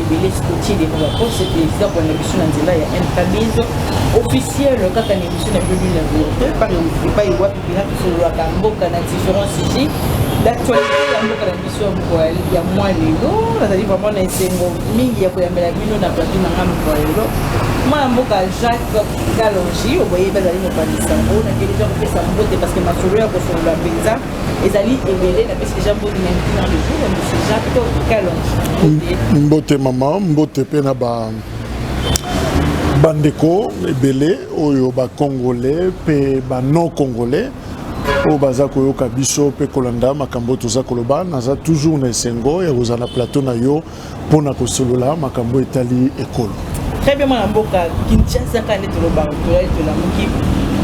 ebele sikotie de ba poste ezida kolanda biso na nzela ya mkbs officiel kaka na émission na biobili na bilote epai wapi bina tosololaka mboka na différents sujet d'actualité ya mboka na biso ya mokolo ya mwa lelo nazali vraiment na esengo mingi ya koyambela bino na plateau na ngai mokolo ya lelo mwana mboka jacques kalongi oboyebi azali mopanzi sango na keleza kopesa mbote parce que masolo ya kosolola mpenza ezali ebele napesi deja mbote na ntina le jour monsieur jacques to kalonji mbote mama mbote mpe na ba bandeko ebele oyo bacongolais mpe banon congolais oyo baza koyoka biso mpe kolanda makambo oyo toza koloba naza toujours na esengo ya kozala na plateau na yo mpo na kosolola makambo etali ekolo. Très bien mwana mboka Kinshasa kaka nde tolobaka tolali tolamuki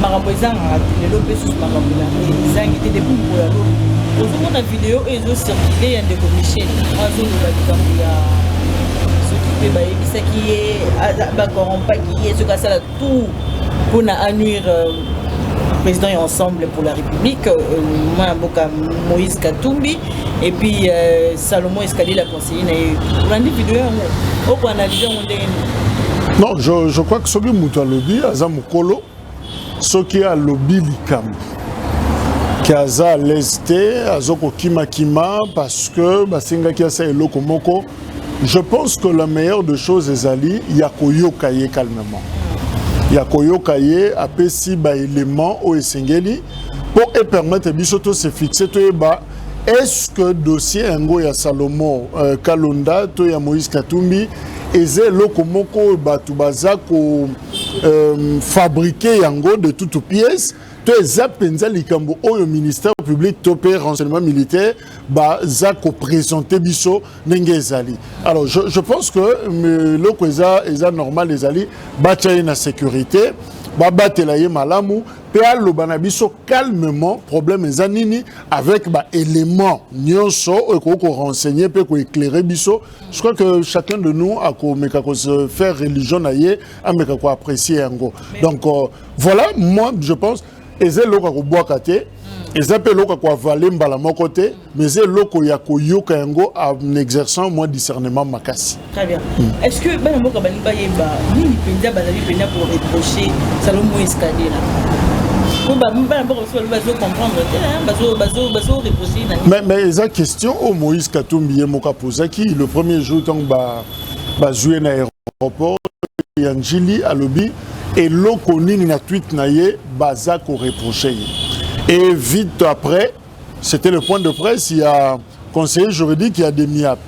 makambo ezangaka te lelo mpe susu makambo na ezangi te depuis mpo ya lobi ozomona video oyo ezocirkule ya ndeko Michel azoloba likambo ya soki mpe bayebisaki ye bacorrompaki ye soki asala tout pour na annuire euh, président et ensemble pour la république euh, mwana mboka moïse katumbi et puis euh, salomon escalier la conseiller na ye olandi video yango okoanalyse yango ndenge nini non je, je crois que soki moto alobi aza mokolo soki alobi likambo ke aza à l'aise te azokokimakima parce que basengaki asa eloko moko je pense que la meilleure de choses ezali ya koyoka ye calmement ya koyoka ye apesi baélément oyo esengeli mpo epermettre biso to se fixe toyeba est-ce que dossier yango ya salomo euh, kalonda to ya moïse katumbi eza eloko moko oyo bato baza kofabrike euh, yango de toute pièce to eza mpenza likambo oyo ministère public to mpe renseignement militaire baza ko présenter biso ndenge ezali alors je, je pense que euh, eloko eza eza normal ezali batya ye na sécurité babatela ye malamu mpe aloba na biso calmement problème eza nini avec baélément nyonso oyo ekoki korenseigne mpe koéclaire biso je crois que chacun de nous akomeka kose faire religion na ye ameka koapprécie yango donc euh, voilà moi je pense eza eloko ya kobwaka te eza mpe eloko ya koavale mbala moko te mais eza eloko ya koyoka yango en exerçant mwa discernement makasi très bien mm. est ce que bana mboka balingi bayeba nini mpenza bazali mpenza koreproche salomo escalier mais eza question oyo moïse katumbi ye moko apozaki le premier jour ntango bazwi ye na aéroport ya njili alobi eloko nini na tweet na ye baza ko reproche ye et vite après c'était le point de presse il y a conseiller juridique ya demiap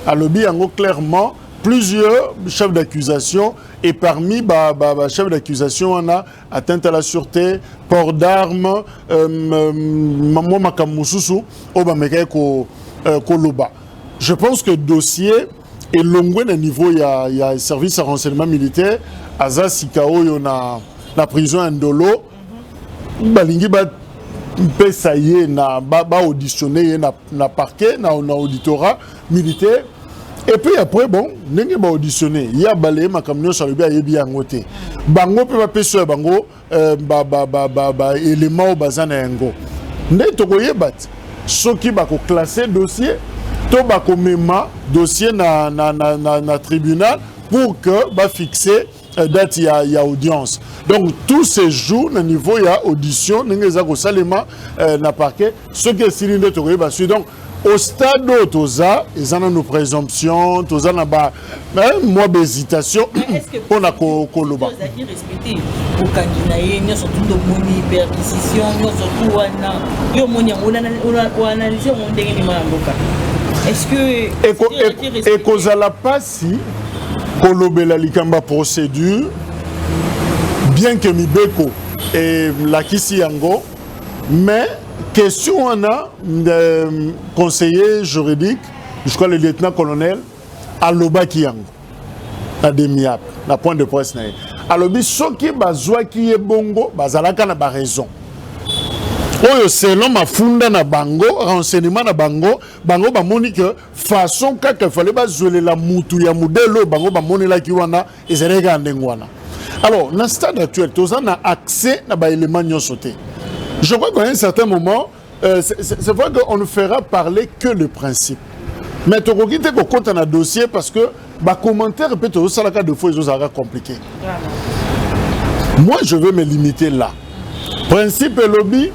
alobi yango clairement plusieurs chefs d'accusation et parmi ba, ba, ba chefs d'accusation wana atteinte à la sûreté port d'armes euh, euh, mwa makambo mosusu oyo bamekaki ko, euh, koloba je pense que dossier elongwe na niveau ya, ya service ya renseignement militaire aza sika oyo na, na prison ya ndolo balingi bapesa ye na baauditionne ba ye na, na parquet na, na auditorat militaire et puis après bon ndenge baauditionne ye abalaye makambo nyonso alobi ayebi yango te bango mpe bapesi ya bango euh, ba, ba, ba, ba, ba elema oyo baza na yango nde tokoyeba ti soki bakoklasse dossier to bakomema dossier na, na, na, na, na tribunal pour que bafixe euh, date ya, ya audience donc tout se joue na niveau ya audition ndenge eza kosalema euh, na parquet soki esili nde tokoyeba sui donc Au stade oyo toza eza nanu presomption toza na ba eh, mwa bahésitation mpo na koloba bokangi na ye nyonso tu tomoni perquisition nyonso tu wana yo omoni yango oanalyse yango ndenge nima ya mboka ekozala mpasi kolobela likambo ya procédure bien que mibeko elakisi yango Mais question wana euh, conseiller juridique, je crois le lieutenant colonel alobaki yango na demiap na point de presse na ye alobi soki bazwaki ye bongo bazalaka na baraison oyo selon mafunda na bango renseignement na bango bango bamoni ke façon kaka efale bazwelela mutu ya modele oyo bango bamonelaki wana ezalaki kaka ndenge wana alors na stade actuel toza na accès na baélément nyonso te je crois qu'à un certain moment euh, c'est vrai qu'on ne fera parler que le principe mais tokoki te kokɔta na dossier parce que bacommentaire mpe tozosalaka de fois ezozalaka compliqué moi je veux me limiter là principe elobi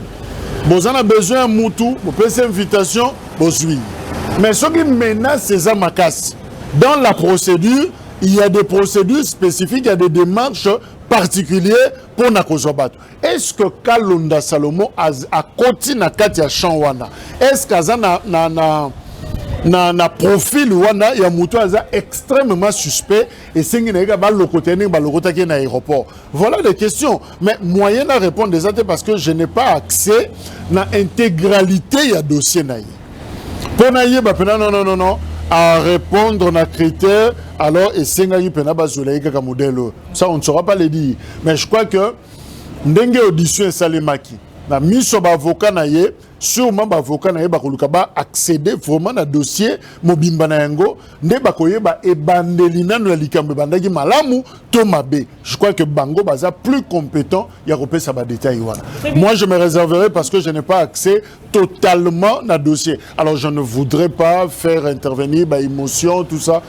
boza na besoin ya mutu bopesi invitation bozwi mais soki menace eza makasi dans la procédure il y a des procédures spécifiques, il y a des démarches particulières pour Nakozwa Batu. Est-ce que Kalonda Salomon a, a koti na kati ya champ wana? Est-ce qu'aza na, na, na, na, na profil wana ya moto aza extrêmement suspect esengi na ye ka balokota ye ndenge balokotaki ye na aéroport voilà des questions mais moyen na répondre eza te parce que je n'ai pas accès na intégralité ya dossier na ye mpo nayeba mpena non non non non à répondre na critère alors esengaki mpena bazwela ye kaka modèle oyo ça on ne saura pas le dire mais je crois que ndenge audition esalemaki na miso baavocat na ye sûrement baavocat na ye bakoluka ba accéder vraiment na dossier mobimba na yango nde bakoyeba ebandeli nano ya likambo ebandaki malamu to mabe je crois que bango baza plus compétent ya kopesa badetail wana moi je me réserverai parce que je n'ai pas accès totalement na dossier alors je ne voudrais pas faire intervenir baémotion tout ça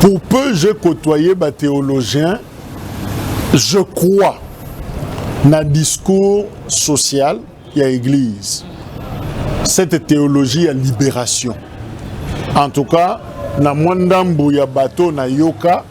Pour peu j'ai côtoyé ba théologien, je crois na discours social ya église. Cette théologie ya libération. En tout cas, na mwa ndambo ya bateau na yoka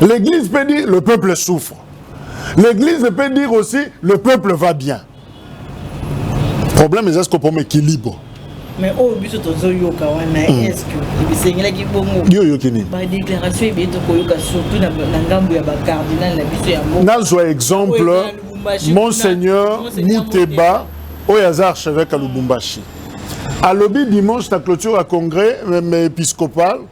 L'église peut dire le peuple souffre. L'église peut dire aussi le peuple va bien. Problème, c'est ce qu'on équilibre. mais oyo oh, biso tozoyoka wana hmm. eske esengelaki bongo yo oyoki nini badéclaration ebeye tokoyoka surtout na ngambo ya bacardinal na biso yango nazwa exemple monseigneur muteba oyo aza archevêque ya lubumbashi alobi dimanche na clôture ya congrès épiscopal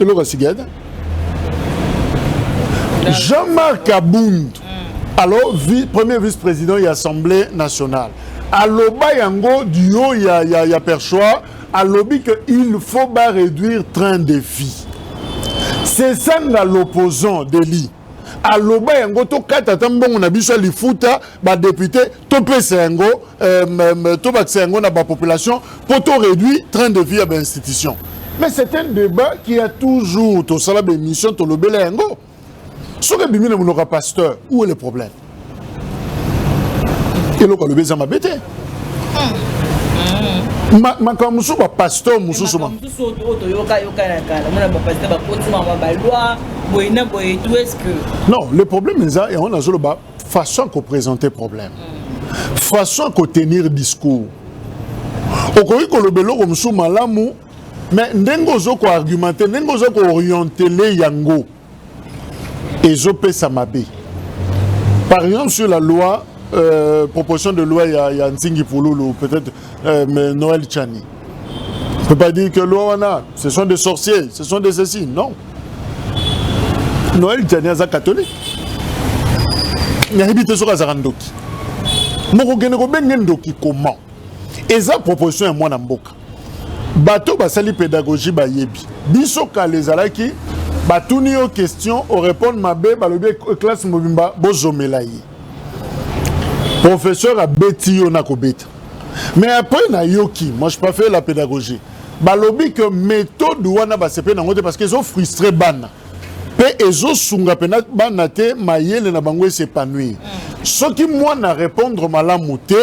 eloko ya sika ata Jean-Marc Abund alors vi, premier vice-président ya Assemblée nationale aloba yango du haut ya, ya, ya perchoir alobi que il faut ba réduire train de vie c'est ça nga l'opposant deli aloba yango tokata ata mbongo na biso ya lifuta badepute topesa yango euh, tobakisa yango na bapopulation mpo to réduit train de vie ya bainstitution mais c'est un débat qui a toujours tosala baémission tolobela yango soki ebimi na monoko ya pasteur où est le problème eloko alobi eza mabe te makambo mosusu bapasteur mosusu non le problème eza yango nazoloba façon ya koprésente problème hmm. façon ya kotenir discours okoki koloba eloko mosusu malamu mais ndenge ozo ko argumenter ndenge ozo ko orienter le yango ezopesa mabe par exemple sur la loi euh, proposition de loi ya, ya nzingi pululu peut-être euh, mais noël chani on peut pas dire que loi wana ce sont des sorciers ce sont des ceci non noël chani aza catholique nayebi te soki azalaka ndoki mokokende kobenge ndoki comment eza proposition ya mwana mboka bato basali pedagogie bayebi biso kala ezalaki batuni yo question orépondre mabe balobi classe mobimba bozomela ye professeur abeti yo na kobeta mais après nayoki moi je pas fait la pédagogie balobi que méthode wana basepe nango te parce que ezo frustre bana mpe ezosunga mpena bana te mayele na bango esepanouir mm. soki mwana répondre malamu te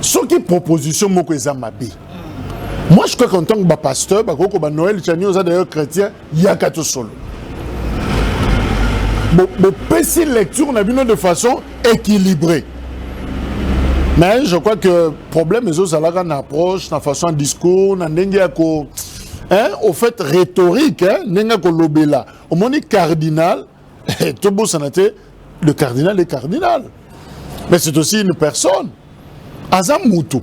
soki proposition moko eza mabe moi je crois qu'en tant que bapasteur bakoki koba noël chani oza d'ailleurs chrétien yaka tosolo bopesi lecture na bino de façon équilibrée mais je crois que problème ezozalaka na approche na façon ya discours na ndenge ya ko hein, au fait rhétorique hein, ndenge ya kolobela omoni cardinal tobosana te le cardinal est cardinal mais c'est aussi une personne aza mutu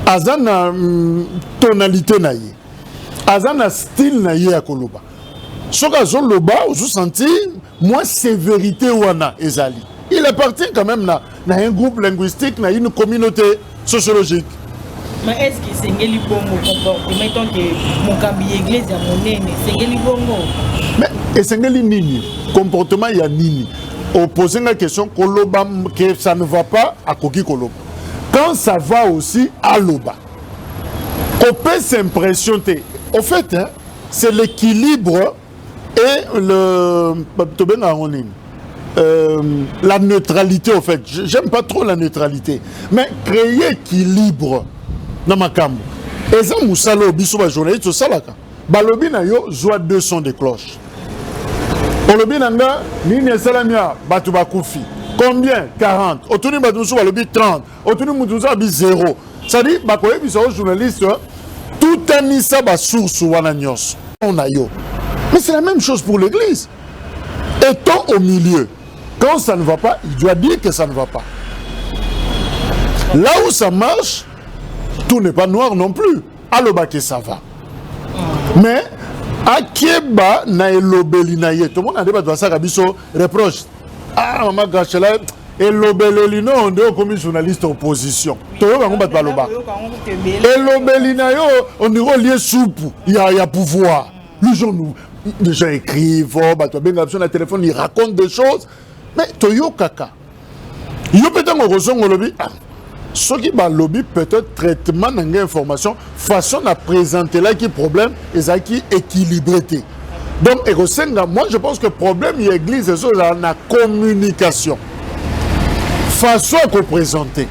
aza na mm, tonalité na ye aza na style na ye ya koloba soki azoloba ozosentir mwa sévérité wana ezali il appartient quand même na, na un groupe linguistique na une communauté sociologique ma est-ce que esengeli bongo comportement etant que mokambi ya eglise ya monene esengeli bongo mais esengeli nini comportement ya nini opose nga question koloba que ça ne va pas akoki koloba quand ça va aussi aloba kopesa impression te au fait hein, c'est l'équilibre et le tobengaka yango nini euh, la neutralité au fait j'aime pas trop la neutralité mais créer équilibre na makambo eza mosala oyo biso bajournaliste tosalaka balobi na yo zwa 200 de cloche olobi na nga nini esalami ya bato bakufi combien 40 otuni bato mosusu balobi 30 otuni mutu oza abi zero cestadire bakoyebisa yo journaliste tutanisa basource wana nyonso na yo mais c'est la même chose pour l'église étant au milieu quand ça ne va pas il doit dire que ça ne va pas là où ça marche tout n'est pas noir non plus aloba que ça va mais akeba na elobeli na ye tomona nde bato basalaka biso reproche ah mama gachela elobeleli no nde okomi journaliste opposition toyoka yango bato baloba elobeli na yo ondiri olie supu ya, ya pouvoir les gens nous les gens écrivent oh, bato babenga biso na téléphone ils racontent des choses mais toyokaka yo mpe ntango okozonga olobi ah, soki balobi peut-être traitement na ngai information façon na présentelaki problème ezalaki équilibré te donc ekosenga moi je pense que problème ya église ezo ezala na communication façon ya koprésente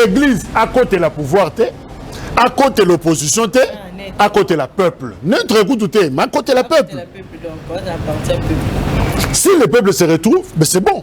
église akotela pouvoir te akotela opposition te ah, akotela peuple neutre kutu te mais akotela peuple si le peuple se retrouve mais c'est bon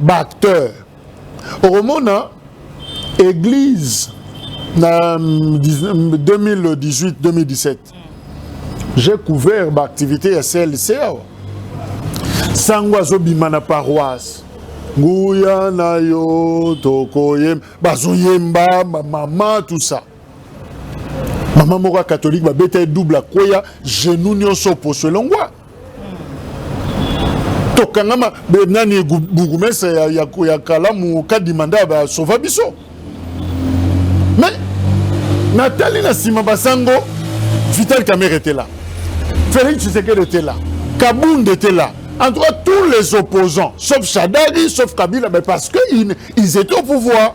ba acteurs okomona église na 2018 2017 j'ai couvert ba activité ya CLC awa sango azobima na paroisse nguya na yo tokoyemba bazoyemba bamama tout ça mama moko ya katolike babeta ye double akweya genou nyonso oposo elongwa tokangama nani bourgmestre ya, ya, ya kalamu kadima nde basova biso me natali na nsima basango vital kamere etela félix tshisekedi etela kabund etela en tout cas tous les opposants sauf shadari sauf kabila mais parce que ils, ils étaient au pouvoir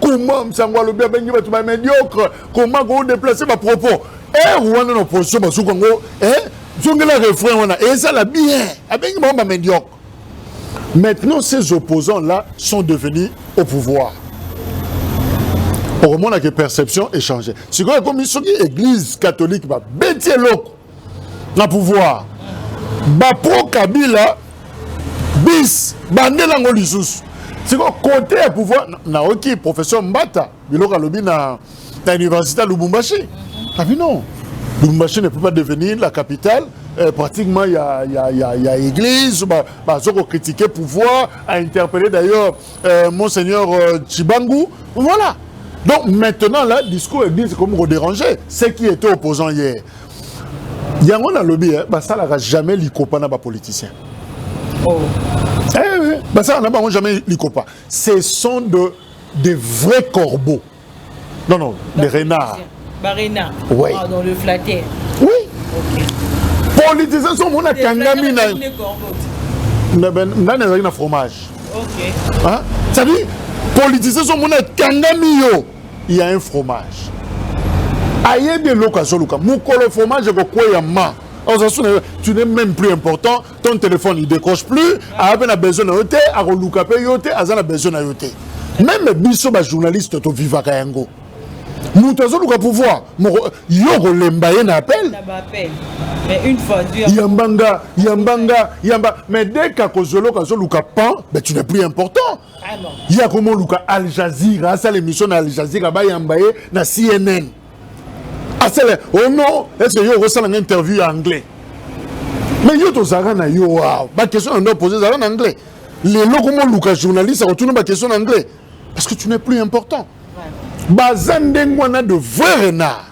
comment msango alobi abengi bato ba médiocre comment ko déplacer ba propos heure wana na opposition basuki yango eh, zongela refrain wana ezala bien abengi bango ba médiocre maintenant ces opposants là sont devenus au pouvoir okomonaka perception échange sikoyo ekomi soki église catholique babeti eloko na pouvoir bapro kabila bis bande nango lisusu sikoyo kote ya pouvoir nayoki professeur mbata biloko alobi na, na université ya lubumbashi abi non lubumbashi ne peut pas devenir la capitale euh, pratiquement ya, ya, ya, ya église bazo ba kocritiquer pouvoir a interpellé d'ailleurs euh, monseigneur euh, chibangu voilà donc maintenant là discours église ekomi kodéranger ce qui était opposant hier yango nalobi eh, basalaka jamais likopa na bapoliticien oh. eh, basalaka na bango jamais likopa ce sont de des vrais corbeaux non non des renards barena oui. ah, dans le flatteur oui okay. politicien so omona kangami na nani azalaki na fromage okay. hein? c'est-à-dire politicien so omona kangami yo il y a un fromage ayebi eloko azoluka mokolo fromage ekokweya ma tu n'es même plus important ton téléphone il décroche plus aya mpe na besoin na yo te akoluka mpe yo te aza na besoin na yo te meme biso bajournaliste tovivaka yango moto azoluka pouvoir moko yo okolemba ye na appel yambanga yambanga yamba mais dès kakozoloka azoluka pan mais tu n'es plus important ye akoma oluka al jazeera asala émission na al jazeera bayamba ye na cnn asala o oh non ece yo okosala nga interview ya anglais mais yo tozalaka na yo waw baquestion na ndo pose ezalaka na anglais lelo koma oluka journaliste akotuna baquestion na anglais parce que tu n'es plus important baza ndenge wana de vrai renard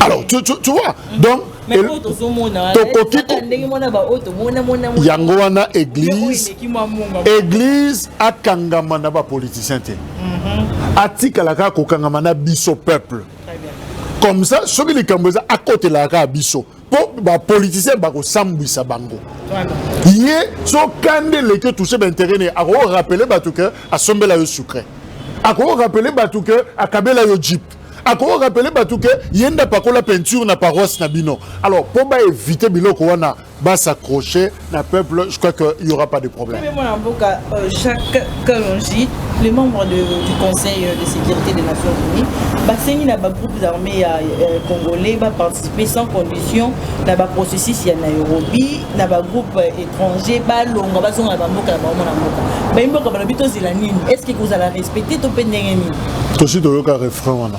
alors tu, tu, tu vois mm. donc tokoki yango wana église église akangama na bapoliticien te mhm. atikala kaka kokangama na biso peuple comme ça soki likambo eza akotelaka kaka biso po ba politiciens ba ko sambwisa bango ye so kande leke touche ba intérêt ne ako rappeler batu que asombela yo sucre ako rappeler batu que akabela yo jeep ako rappeler batu que yenda pakola peinture na paroisse na bino alors po ba éviter biloko wana ba s'accrocher na peuple je crois que y aura pas de problème mais mwana mboka euh, Jacques Kalonji les membres de, du conseil euh, de sécurité des nations unies basengi na bagroupes armés ya euh, congolais baparticiper sans condition na baprocessus ya nairobi na bagroupe étranger balongwa bazonga na bamboka na bango mwana mboka bayi mboka balobi tozela nini est ce que kozala respecte to mpe ndenge nini tosi toyoka refrain wana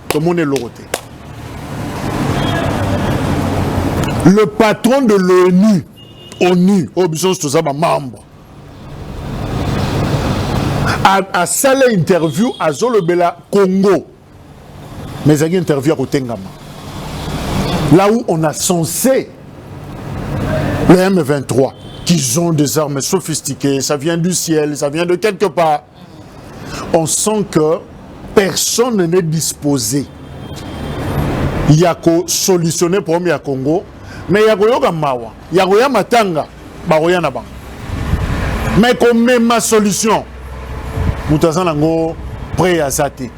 tomoni eloko te le patron de l'onu onu oyo biso nyonso toza bamembre asala interview azolobela congo mais ezalaki interview ya kotengama là où on a censé le m23 qu'ils ont des armes sophistiquées ça vient du ciel ça vient de quelque part on sent que personne n'est disposé ya ko solutionner problème ya Congo mais ya koyoka mawa ya koya matanga bakoya na bango mais komema solution moto aza nango près aza te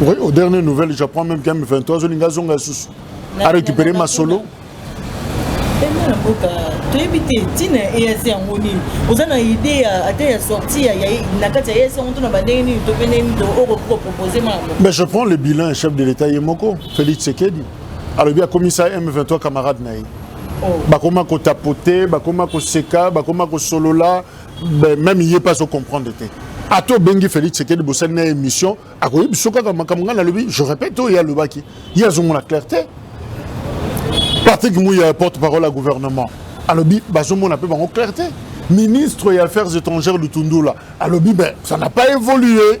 Oui, aux dernières nouvelles, j'apprends même qu'un 23 zolinga zonga sous a récupéré ma solo. toyebi te ntina ya eas yango nini oza na idée ata ya sortie na kati ya eas yango to na bandenge nini to mpe ndenge nini okoki kopropose mama mais je prends le bilan chef de l'état ye moko félix sekedi alobi akomisa m23 camarade na ye oh. bakoma kotapote bakoma koseka bakoma kosolola meme ye mpe azo comprendre te ata obengi félix sekedi bosali na émission akoyebi biso kaka makambo ngai nalobi je répète oyo ye alobaki ye azomona clair te patrick muya porte parole ya gouvernement alobi bazomona mpe bango clair te ministre ya affaires étrangères lutundula alobi ben ça n'a pas évolué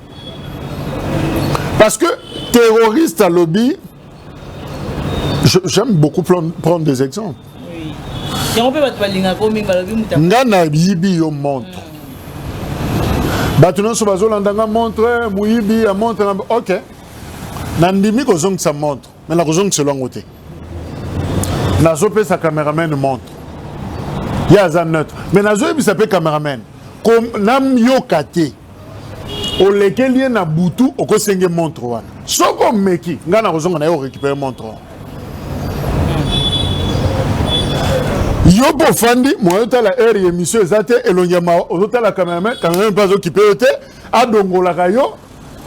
Parce que terroriste à lobby, j'aime beaucoup prendre des exemples. nga nayibi yo montre mm. bato nyonso bazolanda nga montre moyibi ya montre na ok nandimi kozongisa montre me nakozongiselo yango te nazopesa cameraman montre ye aza neutre me nazoyebisa mpe cameraman nayoka te olekeli ye na butu okosenge montre wana soki omeki ngai nakozonga na ye orécupere montre wana yo mpe ofandi moye otala heure ya émission eza te elongi ya mawa ozotala cameraman cameraman mpe azokipe yo te adongolaka yo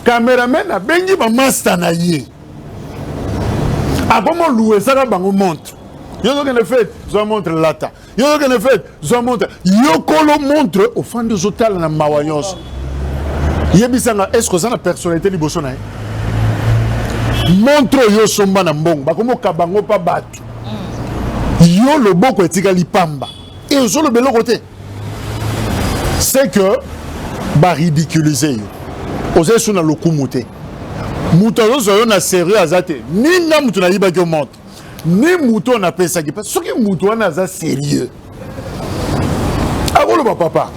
cameraman abengi bamasta na ye akomoluesaka bango montre yo ozokende fete zwa montre lata yo yokende fete zwa montre yokolo montre ofandi ozotala na mawa nyonso yebisa nga estce oza na personnalité liboso na ye montre oyo osomba na mbongo bakomi okaba yango mpa bato yo loboko etikali pamba e ozoloba eloko te c'est que baridiculize yo oza esu na lokumu te moto azozwa yo na sérieux aza te ninga moto nayibaki yo montre ni moto oyo napesaki mpe soki moto wana aza serieux akoloba papa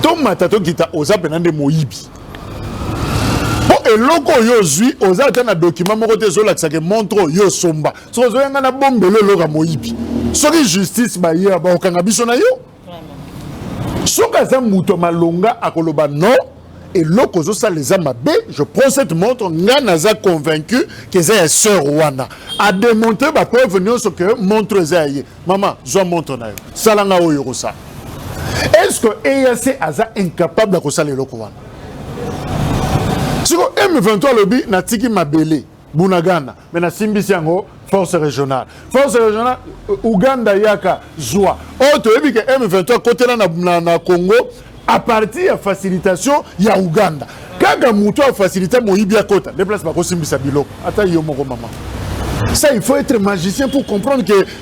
tomata tokita oza mpena nde moyibi mpo eloko oyo ozwi oza ata na dokima moko te ezolakisa ke montre oyo osomba soki ozoyanga na bombelo eloko ya moyibi soki justice baye bakokanga biso na yo soki aza moto ya malonga akoloba non eloko ozosala eza mabe je prends cette montre ngai naza convaincu ke eza ya sœur wana ademontre bapreuve nyonso ke montre eza ya ye mama zwa montre na yo sala ngai oyo okosala est ce que eac aza incapable ya kosala eloko wana siko m23 alobi natiki mabele Bunagana mais nasimbisi yango force régionale force régionale euh, Ouganda yaka zwa oyo oh, toyebi ke M23 akotela na, na, na Congo à partir ya facilitation ya Ouganda kaka moto afasilite moyibi akota nde place bakosimbisa biloko ata yo moko mama ça il faut être magicien pour comprendre que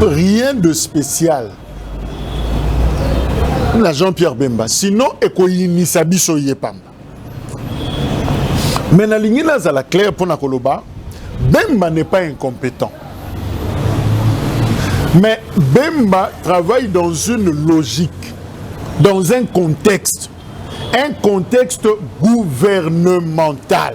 rien de spécial na jean-pierre bemba sinon ekoyinisa biso ye pamba me nalingi nazala claire mpo na koloba bemba n'est pas incompétent mais bemba travaille dans une logique dans un contexte un contexte gouvernemental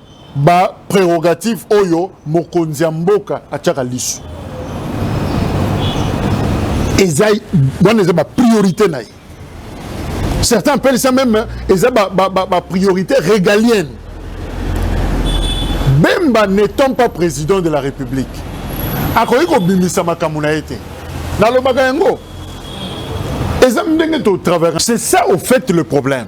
ba prerogatives oyo mokonzi ya mboka atiaka lisu eza wana eza ba priorité na ye certains appellent ça même eza ba, ba, ba, ba priorité régalienne bemba n'étant pas président de la république akoki kobimisa makambo na ye te nalobaka yango eza ndenge totraverse c'est ça au fait le problème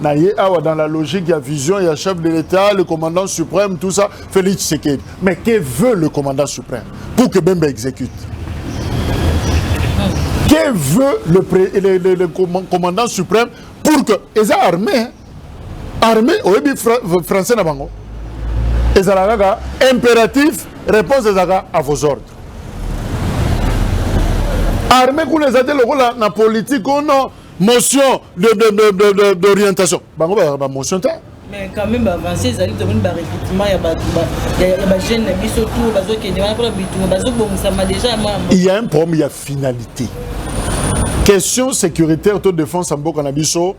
na ye awa dans la logique ya vision ya chef de l'état le commandant suprême tout ça félix tshisekedi mais que veut le commandant suprême pour que bemba exécute que veut le, pré, le, le, le commandant suprême pour que eza armée armée oyebi fra, français na bango ezalaka kaka impératif réponse ezalaka à vos ordres armée kuna eza te lokola na politique ono oh motion de, de, de, de, de, d'orientation bango bazalaka bamotion te mais quand même baavance ezali tomoni barecrutement ya bato ya bajeune na biso tour bazokende wana mpona bitunga bazobongisama déjà ya mwana il y a un problème ya finalité question sécuritaire to défense ya mboka na biso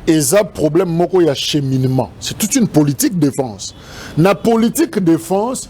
eza problème moko ya cheminement c'est toute une politique défense na politique défense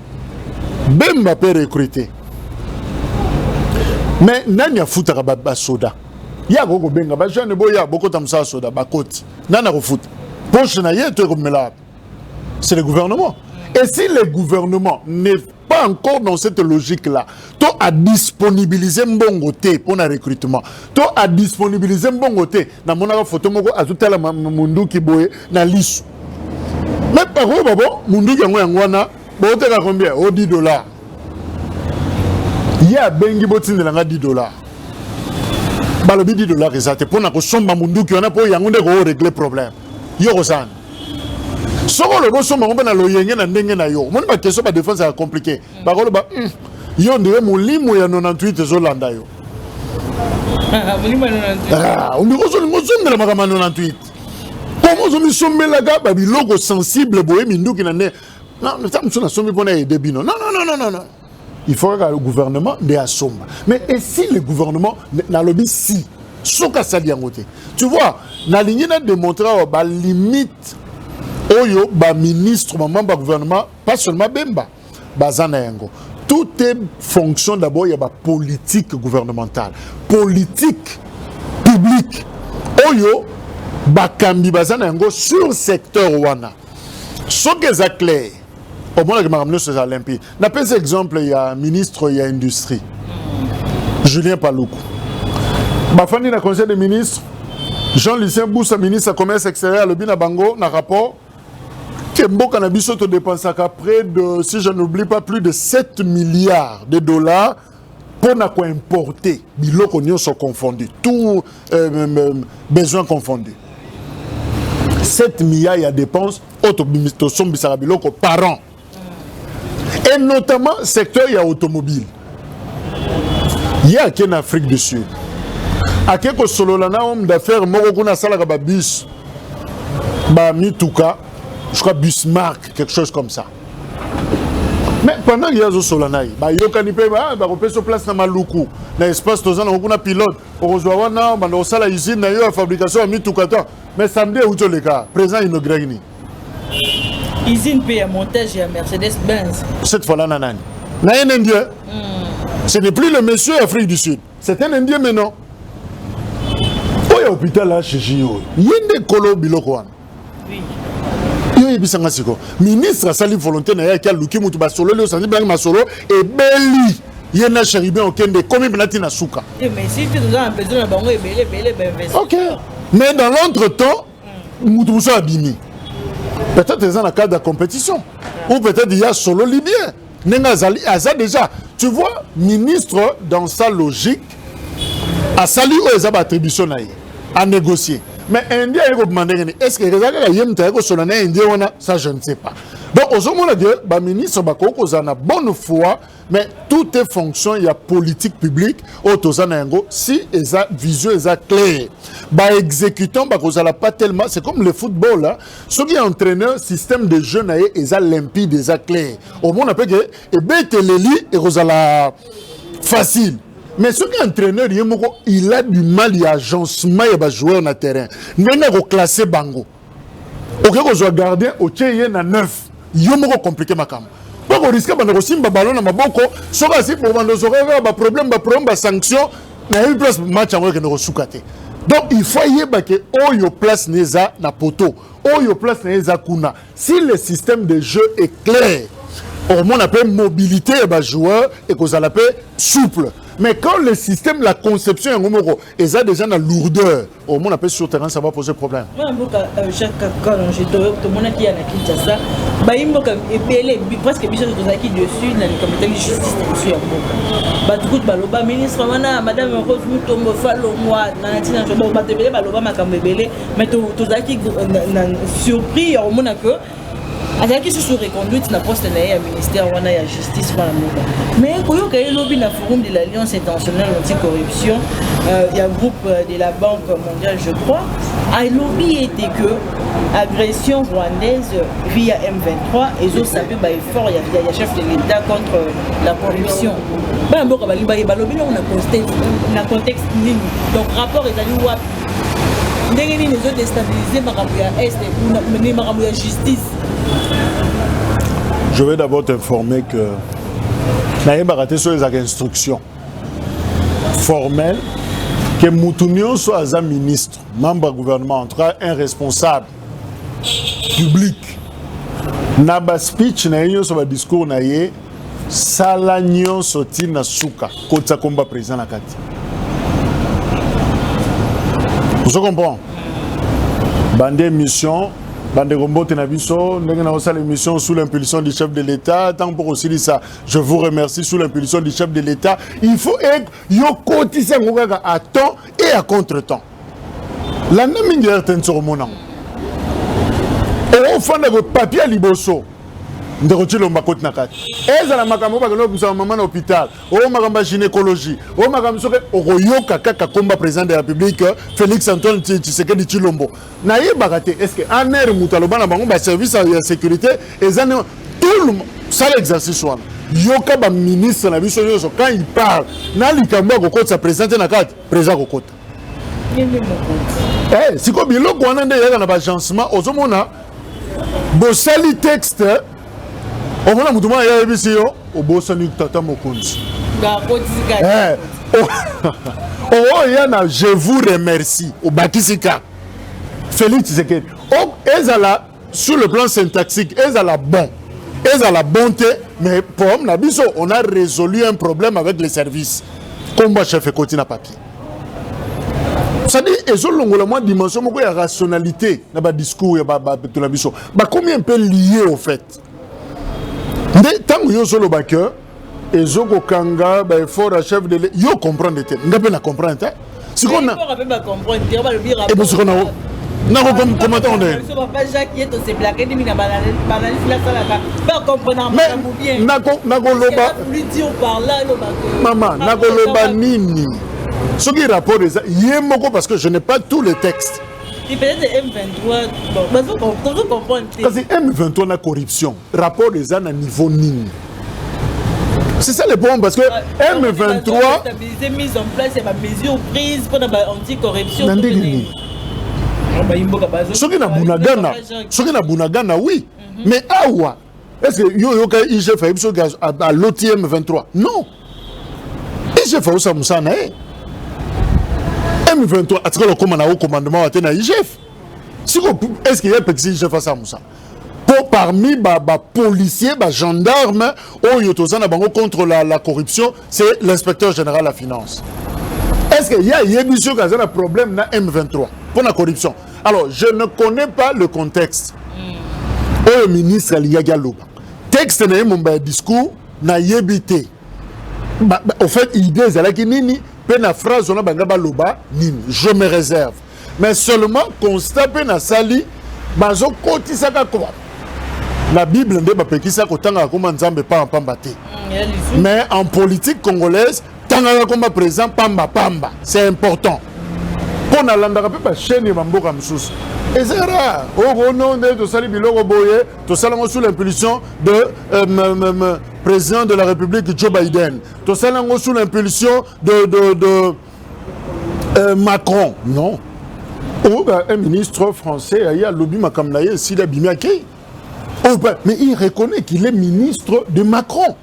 Bemba pe recruter. Mais nani afutaka ba, ba soda? Ya ko benga ba jeune boya bokota musala soda ba koti. Nani akofuta? Poche na ye to ekomela. C'est le gouvernement. Et si le gouvernement n'est pas encore dans cette logique là to a disponibiliser mbongo te mpo na recrutement to a disponibiliser mbongo te namonaka foto moko azotala munduki boye na lisu me pakoyo babo munduki yango yango wana booteka combien o 10 dollar ye abengi botindela nga 10 dollar balobi 10 dollar eza te mpo na kosomba munduki wana mpo yango nde koo regle problème yo kozana soki olobi osomba ngo mpe na loyenge na ndenge na yo omoni bakestion badefense ya compliqué bakoloba hmm, yo ndire molimo ya 98 ezolanda yo ah, ondiko ozolinga ozongela makambo ya 98 koma ozomisombelaka babiloko sensible boye minduki na nde ntango mosusu nasombi mpo na ede bino non non non non non il faut kaka le gouvernement nde asomba mais et si le gouvernement nalobi si soki asali yango te tu vois nalingi na démontre awa balimite oyo baministre bamambe ya gouvernement pas seulement bemba baza na yango tout est fonction d'abord ya bapolitique gouvernementale politique publique oyo bakambi baza na yango sur secteur wana soki eza clair omonaki makambo nyonso eza limpide napesi exemple ya ministre ya industrie julien paluku bafandi na conseil des ministres jean lucien busa ministre ya commerce extérieur alobi na bango na rapport te mboka na biso todepensaka près de si je n'oublie pas plus de 7 milliards de dollars mpo na koimporte biloko nyonso confondu tout euh, euh, euh besoin confondu 7 milliards ya dépense oyo tosombisaka biloko par an et notamment secteur ya automobile ye ake na afrique du sud ake kosolola na homme d'affaires moko kuna asalaka babus bamituka je crois busmark quelque chose comme ça mais pendant ye azosolola na ye bayokani mpe ah, bakopesa place na maluku na espace toza nango kuna pilote okozwa wana banda kosala usine na yo ya fabrication ya mituka to mais samedi euti oleka président inauguraki nini usine mpe ya montage ya mercedes benz cette fois là na nani na un indien mm. ce n'est plus le monsieur afrique du sud c'est un indien maintenant oyo hôpital achechi yo ye nde kolo biloko wana yo yebisa nga siko ministre asali volonté na ye ake aluki motu basololi osanzi bilangi masolo ebeli ye na cheribin okende ekomi mpena ntina suka eh, ok mais dans l'entre temps mutu musu abimi peut-être eza na cadre ya compétition ou peut-être ya solo libien ndenge azali aza déjà tu vois ministre dans sa logique asali oyo eza baattribution na ye anégocier mais indien aye kobima ndenge nini est ce que eza kaka ye moto aye kosola na indien wana ça je ne sais pas donc ozomona ke baministre bakoki kozala na bonne foi mais tout est fonction ya politique publique oyo toza na yango si eza vision eza claire baexécutant bakozala pas tellement c'est comme le football hein. soki ya entraîneur système de jeu na ye eza limpide eza claire omona mpe ke ebeteleli ekozala facile mais soki entraîneur ye moko il a du mal ya agencement ya bajoueur na terrain ndenge akoclasse bango oke kozwa gardien otie ye na neuf yo moko komplike makambo mpo koriske banda kosimba balo na maboko soki asi bobanda ozoka kaka baproblème baproblème basanction nayebi place match yango ekende kosuka te donc il faut ayeba ke oyo place na eza na poteau oyo place na ye eza kuna si le système de jeu est clair okomona mpe mobilité ya bajoueur ekozala mpe souple mais quand le système la conception yango moko eza déjà na lourdeur omona mpe sur terrain ça va poser problème mwana mboka euh, jacques kakanonge tomonaki ya na kinshasa bayi mboka ebele presque biso tozalaki dessus na likambo etali justice na biso ya mboka bato kutu baloba ministre wana madame rose mutombo falongwa na ntina bato ebele baloba makambo ebele mais tozalaki euh, surpris ya komona que azalaki susu reconduite na poste na ye ya ministère wana ya justice mpona mboka mais koyoka ye lobi na forum de l'alliance internationale anticorruption euh, ya groupe euh, de la banque mondiale je crois alobi ete que agression rwandaise via m23 ezosape baeffort ya, ya chef de l'état contre euh, la corruption bana mboka balingi baye balobi nango na contexte nini donc rapport ezali wapi ndenge nini ezo destabiliser makambo ya est mais makambo ya justice je vais d'abord t'informer que nayebaka te soki ezalaka instruction formelle que mutu nyonso aza ministre membre ya gouvernement en tout cas un responsable public na baspeech na ye nyonso badiscours na ye sala nyonso ti na suka kotisa komba président na kati ozo comprend bande émission bandeko mbote na biso ndenge naosala émission sous l'impulsion du chef de l'état ntango mpo kosilisa je vous remercie sous l'impulsion du chef de l'état il faut yokotisa yango kaka à temps et à contre temps landa mingi rtn sokomona yango okofanda ko papier liboso ndeko cilomba koti na kati ezala makambo oyo bakende kobimisa mama na hôpital oyo makambo ya gynécologie oyo makambo soki okoyoka kaka komba président de la république félix antoine tshisekedi cilombo nayebaka te est ce que en aire moto aloba na bango baservice ya sécurité eza ne tout sala exercice wana yoka baministre na biso nyonso quand il parle na likambo ya kokotisa président te na kati président akokota Eh, sikoyo biloko wana nde eyaka na bagencement ozomona bosali texte omona motu mwana yayebisi yo obosani tata mokonzi eh, oya oh, oh, na je vous remercie obakisi ka félix tshisekedi ezala sur le plan syntaxique ezala bon ezala bon te mais problème na biso on a résolu un problème avec les services kombo ya chef ekoti na papier sadi ezolongola mwa dimension moko ya rationalité na badiscours ya bato na biso bakomi un peu lie au fait nde ntango yo ozoloba que ezo kokanga ba effort ya chef de yo comprendre te nga mpe na comprendre te sikoyo na epo sikoyo na nako komata onde nakoloba mama nakoloba nini soki rapport eza ye moko parce que je n'ai pas tous les textes kasi m23 na corruption rapport eza na niveau nini C'est ça le problème parce que ah, M23 stabiliser mise en place ya ba mesures prises pour la anti-corruption. Na ndenge nini? Soki na Bunagana, soki na Bunagana oui, mhm. mais awa est-ce que yo yoka IGF ayebi soki à l'OTM 23? Non. IGF aosa musana na ye. M23 atikala okoma na haut commandement wa te na IGF. Siko est-ce que ye apekisi IGF asa musana? mpo parmi ba, ba policier ba gendarme oyo toza na bango contre la, la corruption c'est l'inspecteur général ya finance est ce que ye ayebi soki aza na problème na m23 mpo na corruption alors je ne connais pas le contexte hmm. oyo ministre alingaki aloba texte na ye momba ya discours nayebi te au fait idée ezalaki nini mpe na phrase wana banga baloba nini je me réserve mais seulement constat mpe nasali bazokotisaka koba na bible nde bapekisa kotangaka koma nzambe pamba pamba te mm, mais en politique congolaise tangaka koma président pamba pamba c'est important mpo nalandaka mpe bachaine ya bamboka mosusu eza rare okono oh, oh, nde tosali biloko boye tosalango sous l'impulsion de euh, président de la république joe biden tosali yango sous l'impulsion de, de, de euh, macron non oh, bah, un ministre français aye alobi makambo na ye esili abimi akei oh, bah, mais il reconnaît qu'il est ministre de macron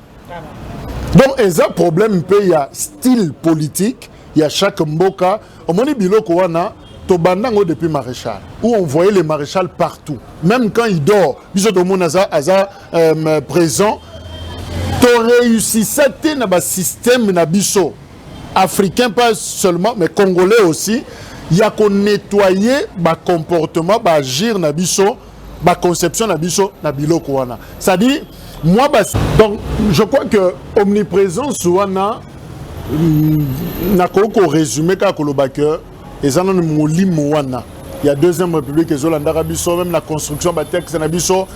donc eza problème mpe ya style politique ya chaque mboka omoni biloko wana tobanda yango depuis maréchal où on voyait le maréchal partout même quand il dort biso tomoni aza aza euh, présent toreusissa te na basystème na biso africain pas seulement mais congolais aussi ya ko nettoyer ba comportement ba agir na biso ba conception na biso na biloko wana c'est à dire moi bas... donc je crois que omniprésence wana mm, nakoki korésumé kaka koloba que eza nanu molimo wana ya deuxième république ezolandaka biso meme na construction ya batexte na biso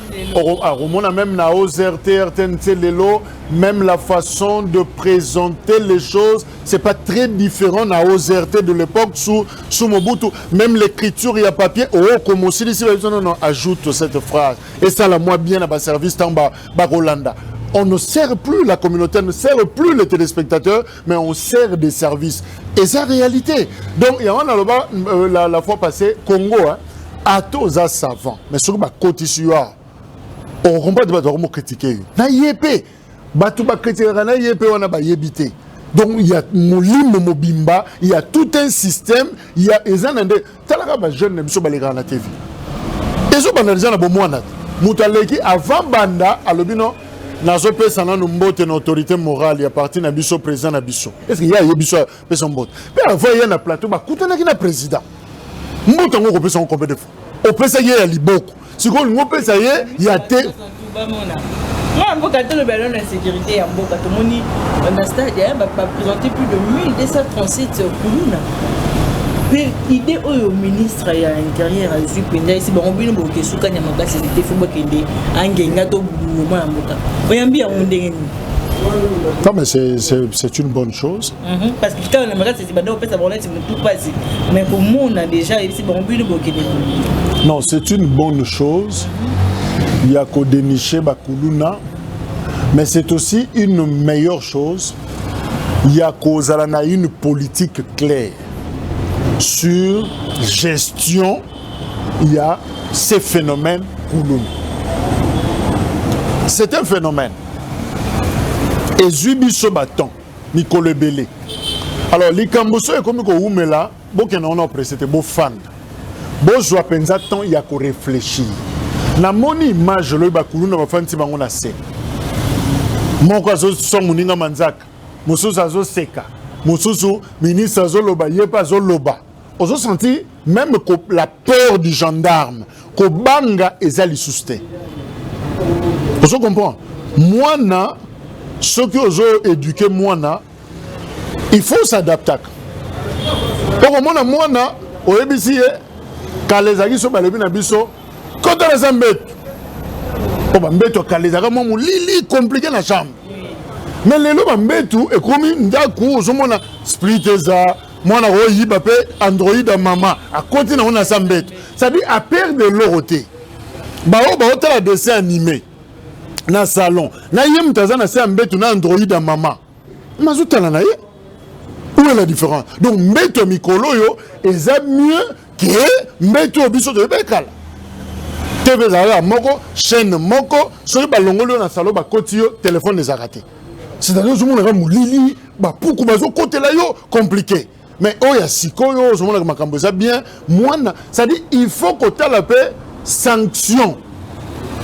akomona meme na ozrt rtnc lelo même la façon de présenter les choses c'est pas très différent na ozrt de l'époque sous, sous mobutu même l'écriture ya papier ookoma oh, osilisi babiso nono ajoute cette phrase esala mwa bien na baservice ntango bakolanda ba on ne sert plus, la communauté ne sert plus les téléspectateurs mais on sert des services et ça réalité donc yango naloba euh, la, la fois passée congo hein, ata oza savant mais soki bakotisi yo awa okomprendre bato bakomo kritike yo na ye mpe bato bakritikaka na ye mpe wana bayebi te donc ya molimo mobimba ya tout un système ya eza na nde talaka ba jeune na biso balekaka na tv ezobanda deja na bomwana moto aleki avant banda alobi no nazopesa nanu mbote na autorité morale ya parti na biso président na biso estce ye ayebi biso apesa mbote mpe avant ye na plateau bakutanaki na président mbote yango okopesa yango combien de fois opesaki ye ya liboko sikoyo olingi opesa ye ya te mwana mboka toloba lelo na insécurité ya mboka tomoni na stade baprésente plus de 1237 kuluna mpe idée oyo ministre ya intérieur azwi mpenza esi bango bino boke esukani ya makasi ezite fo bakende angenga to buluwo mwana mboka oyambi yango ndenge nini Non, mais c'est une bonne chose. Mm -hmm. Parce que quand on aimerait banda kopesa bango neti motu mpasi mais komona déjà yebisi bango bino bokende non c'est une bonne chose ya kodeniche bakuluna mais c'est aussi une meilleure chose ya kozala na une politique claire sur gestion ya ces phénomènes kuluna c'est un phénomène ezwi biso baton mikolo ebele alors likambo soki ekomi kowumela bokenda wana opresse te bofanda bozwa mpenza temps ya koreflechir namoni image olobi bakuluna bafandisi bango na se moko azoswa moninga manzaka mosusu azoseka mosusu ministre azoloba ye mpe azoloba ozo sentir même la peur du gendarme kobanga eza lisusu te ozo comprendre mwana soki ozo éduquer mwana il faut s'adaptaka okomona mwana oyebisi ye kala ezalaki so balobi na biso kota naza mbeto mpo oh, bambeto ya kala ezalaka mwa molili komplike na chambre mais lelo bambetu ekomi ndako ozomona split eza mwana koyiba mpe android ya mama akoti nango na sa mbeto sadi aperde eloko te baoyo baotala dessin anime na salon na ye moto aza na se ya mbeto na android ya mama mazotala na ye où est la différence donc mbeto ya mikolo oyo eza mieux ke mbeto oyo biso toyebaki kala tv ezalaka moko chaîne moko soki balongoli yo na salon bakoti yo telefone ezalaka te c'est-à-dire ozomonaka molili bapuku bazokotela yo compliqué mais oyo ya sikoyo ozomonaka makambo eza bien mwana c'est-à-dire il faut kotala mpe sanction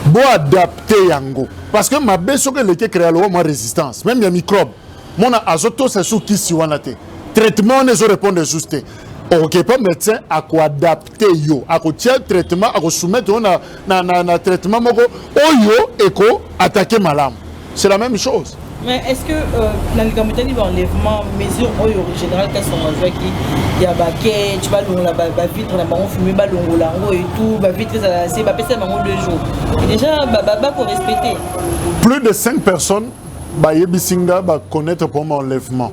boadapte yango parce que mabe soki eleki créa lowa mwa résistance même ya microbe mona azotosa su kisi wana te traitement wana ezorépondre esus te okokepa médecin akoadapte te yo akotia traitement akosoumettre yo na, na, na, na traitement moko oyo eko attaque malamu c'est la même chose mais est ce que euh, na likambo etali baenlèvement mesure oyo général kasongo azwaki ya baketch balongola bavitre na bango fume balongola yango etout bavitre ezala se bapesa bango deux jours déjà bakorespecte plus de 5 personnes bayebisi nga baconnaître mpo ma enlèvement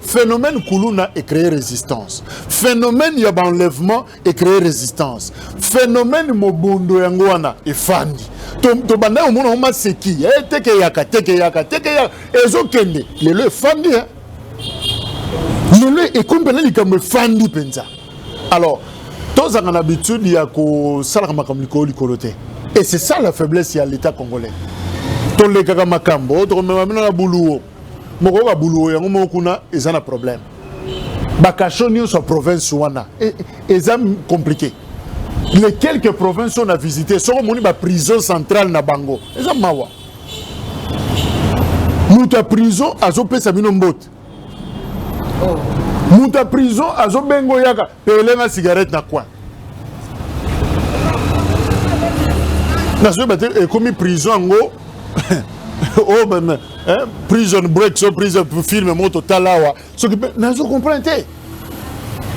Phénomène Kuluna est créé résistance. Phénomène ya enlèvement est créé résistance. Phénomène Mobondo yango wana efandi. tobanda yo omona ngo maseki eh, tekeyaka tekeyaka tekeyaka ezokende lelo efandi eh. lelo ekomi mpena likambo efandi mpenza alors tozanga na habitude ya kosalaka makambo likolo likolo te et c'est ça la faiblesse ya l'état congolais tolekaka makambo tokomema bino na buluwo mokoyoka buluwo yango moko kuna eza na problème bakasho nyonso ya province wana e, e, eza compliqué les quelques provinces oyo na visite soki omoni baprison centrale na bango eza mawa moto ya prison azopesa bino mbote oh. moto ya prison azobenga oyaka pelenga cigarette na coin nazoyeba te ekomi prison yango oyo oh, hein? prison break so prison film moko totala awa soki mpe nazo comprendre te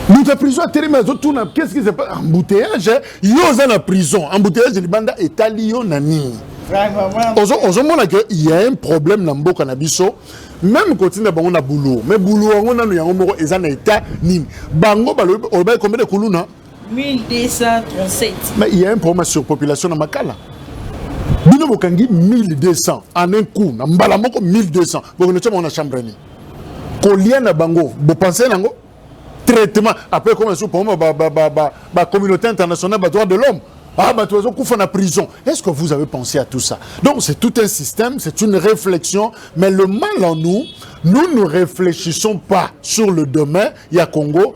moto ya prison atelemi azotuna qu'est-ce qui se passe embouteillage hein? yo oza na prison embouteillage libanda etali yo na nini ozomona ke ya un problème na mboka na biso meme kotinda bango na boulot mais boulot yango nano yango moko eza na etat nini bango balobaki combien de kuluna 1237. Mais il y a un problème de surpopulation na Makala. Bino bokangi 1200 en un coup na mbala moko 1200 bokende tya bango na chambre nini kolia na bango bopense nango traitement après ekoma lisusu problème bacommunauté internationale badroit de l'homme Ah, bah, tu as la prison. Est-ce que vous avez pensé à tout ça Donc, c'est tout un système, c'est une réflexion. Mais le mal en nous, nous ne réfléchissons pas sur le demain. Il y a Congo,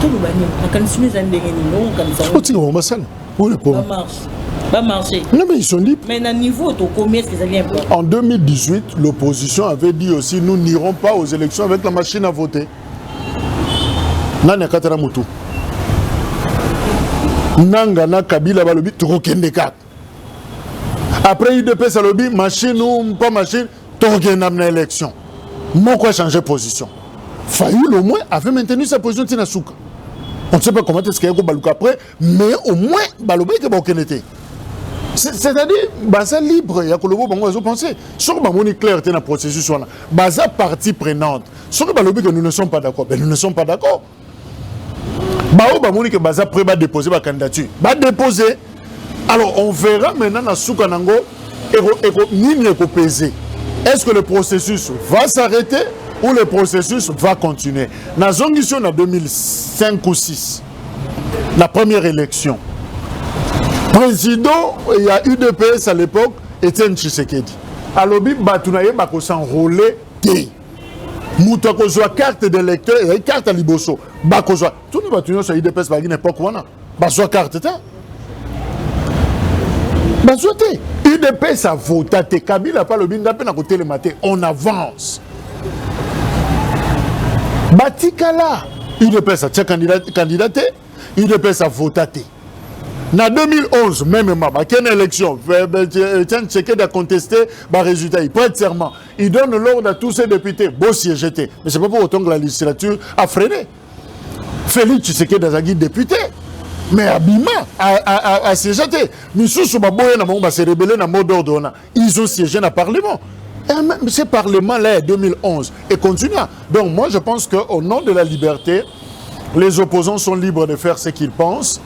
toloba nini makanisi no eza ndenge nini okanisa otika bango basala oyo ekoma Non, mais ils sont libres. Mais à niveau, tu combien est-ce qu'ils allaient En 2018, l'opposition avait dit aussi nous n'irons pas aux élections avec la machine à voter. Nani akatala mutu. Nanga na Kabila balobi tokokende kaka. Après UDPS alobi machine ou pas machine tokokenda na élection moko a changer position fayulu au moins avait maintenu sa position ntina suka on ne sait pas comment est-ce qu'il y a kobaluka après mais au moins balobaki ke bakokende te c'est-à-dire baza libre ya koloba bango bazo penser soki bamoni claire te na processus wana baza partie prenante soki balobi que nous ne sommes pas d'accord ben nous ne sommes pas d'accord baoyo bamoni ke baza près badepose bacandidature badepose alors on verra maintenant na suka na yango nini ekopese est ce que le processus va s'arrêter ou le processus va continuer nazongisi yo na 2005 ou 6 la première élection président ya udps à l'époque etienne tshisekedi alobi bato na ye bakosenrole te moto akozwa carte de lecteur ezali carte ya liboso bakozwa tuna bato nyonso ya idps bazalaki na epoke wana bazwa carte te bazwa te idps avota te kabila mpe alobi ngai mpe nakotelema te on avance batikala udps atia kandida te udps avota te na 2011 memema bakende élection etienne tshekedi aconteste baresultat ye prête serment Il donne l'ordre à tous ces députés, beau siège te. Mais c'est pas pour autant que la législature a freiné. Félix Tshisekedi azalaki député. mais abima asiégea te misusu baboya na bango base rebele na mot d'ordre wana ils ont siégé na parlement Et eh, même ce parlement-là, en 2011, et continua. Donc moi, je pense qu'au nom de la liberté, les opposants sont libres de faire ce qu'ils pensent.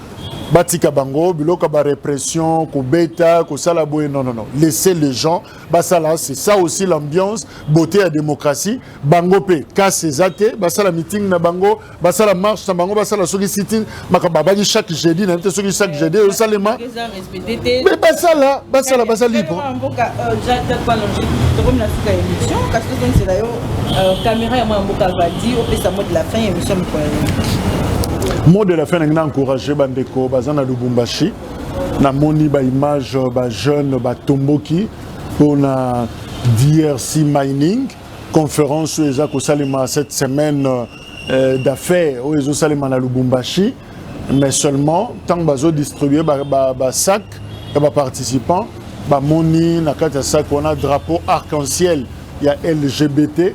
Batika bango, biloka ba répression, ko beta, ko salaboye, non, non, non. Laissez les gens basala c'est ça aussi l'ambiance beauté ya démocratie bango mpe kasi eza te basala meeting na bango basala marche na bango basala soki sitting makambo abaki chaque jeudi nayebi te soki chaque jeudi ezosalema mais basala basala baza libre mot de la fin nangi na encourage bandeko baza na lubumbashi namoni ba image ba jeune batomboki mpona drc mining conférence oyo eza kosalema cette semaine euh, d'affaires oyo ezosalema na lubumbashi mais seulement ntango bazodistribue basac ba, ba ya baparticipants bamoni na kati ya sac wana drapeau arc-en-ciel ya lgbt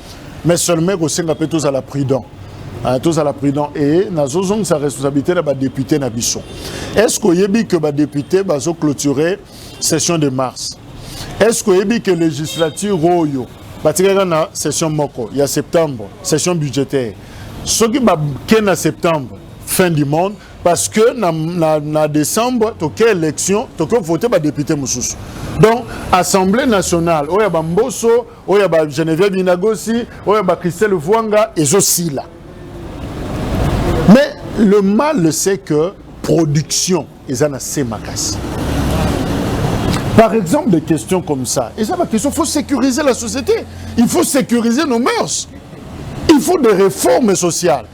mais seulement kosenga mpe tozala prudent ah, tozala prudent e nazozongisa responsabilité na badepute na biso est ce que oyebi que badepute bazoclôture session de mars est ce que oyebi que législature oyo batikaka na session moko ya septembre session budgétaire soki bake na septembre fin du monde parce que na, na, na décembre toke élection toke vote badepute mosusu donc assemblée nationale oyo ya bamboso oyo ya ba Geneviève Binagosi oyo ya ba Christelle Vuanga ezosila mais le mal c'est que production eza na se makasi par exemple des questions comme ça eza ba question faut sécuriser la société il faut sécuriser nos mœurs il faut des réformes sociales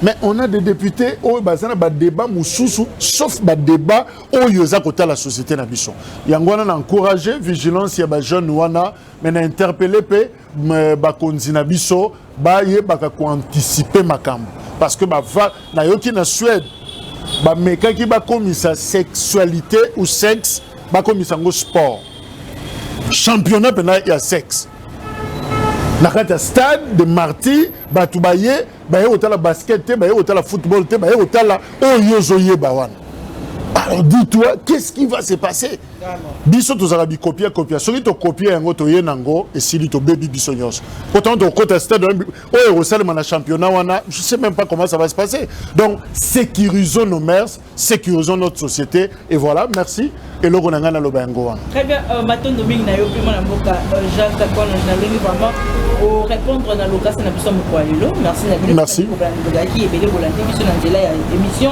mais on a des députés oyo baza na badébat mosusu sauf badébat oyo eza kotala société na biso yango wana na encourage vigilance ya bajeune wana mais na interpelle mpe bakonzi na biso bayebaka koanticipe makambo parce que bava nayoki na suède bamekaki bakomisa sexualité ou sexe bakomisa yango sport championnat mpena ya sexe na kati ya stade de martyr bato baye baye kotala basket te baye kotala football te baye kotala oyo ozoyeba wana alors dis toi qu'est ce qui va se passer biso tozala bikopia kopia soki tokopia yango toye na yango esili tobebi biso nyonso pourtant tokokota stade oyo ekosalema na championnat wana je sais même pas comment ça va se passer donc sécurisons nos mers sécurisons notre société et voilà merci eloko na ngai naloba yango wana très bien euh, matondo mingi na yo mpe mwana mboka euh, jacques takono na ndenge vraiment orépondre na lokasi na biso ya mokolo ya lelo merci na bino merci bolandi biso na nzela ya émission